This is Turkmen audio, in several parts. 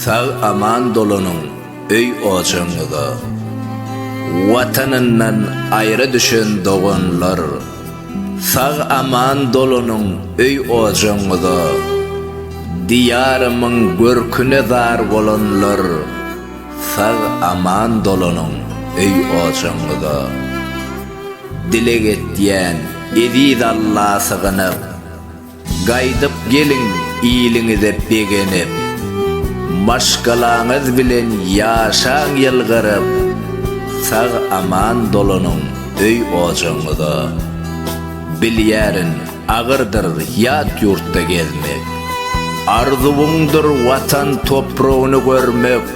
Sag aman dolanyň öý ojagyňyza. Watanyndan aýra düşen doganlar. Sag aman dolanyň öý ojagyňyza. Diýarymyň görküne zar bolanlar. Sag aman dolanyň öý ojagyňyza. Dileg etýän eziz Alla sygynyp. Gaýdyp geliň iliňize begenip. Maşgalaňyz bilen ýaşaň ýylgyryp. Sag-aman dolanyň öý-ojagyňyza. Bilýärin, agyrdyr ýat ýurtda gezmek. Arzuwyňdyr Watan topragyny görmek.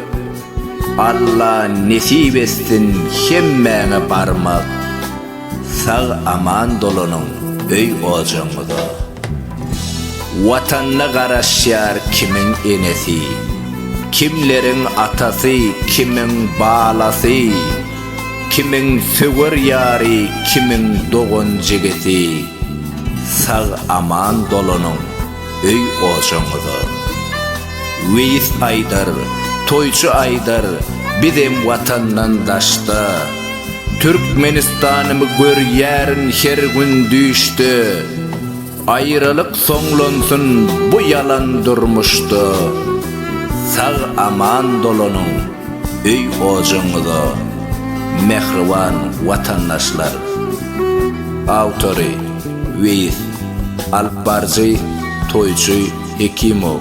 Alla nesip etsin hemmäňe barmak. Sag aman dolanyň öý ojagyňyza. Watanyna garaşýar kimiň enesi, kimleriň atasy, kimiň balasy, kimiň söwer ýary, kimiň dogan-jigisi. Sag aman dolanyň. öý-ojagyňyza. Weýis aýdar, toýçy aýdar, bizem Watandan daşda. Türkmenistanymy görýärin her gün düýşde. Aýralyk soňlansyn bu ýalan durmuşda. Sag-aman dolanyň! öý-ojagyňyza mähriban watandaşlar! Awtory, Weýis, alyp barjy, Toýçy Hekimow.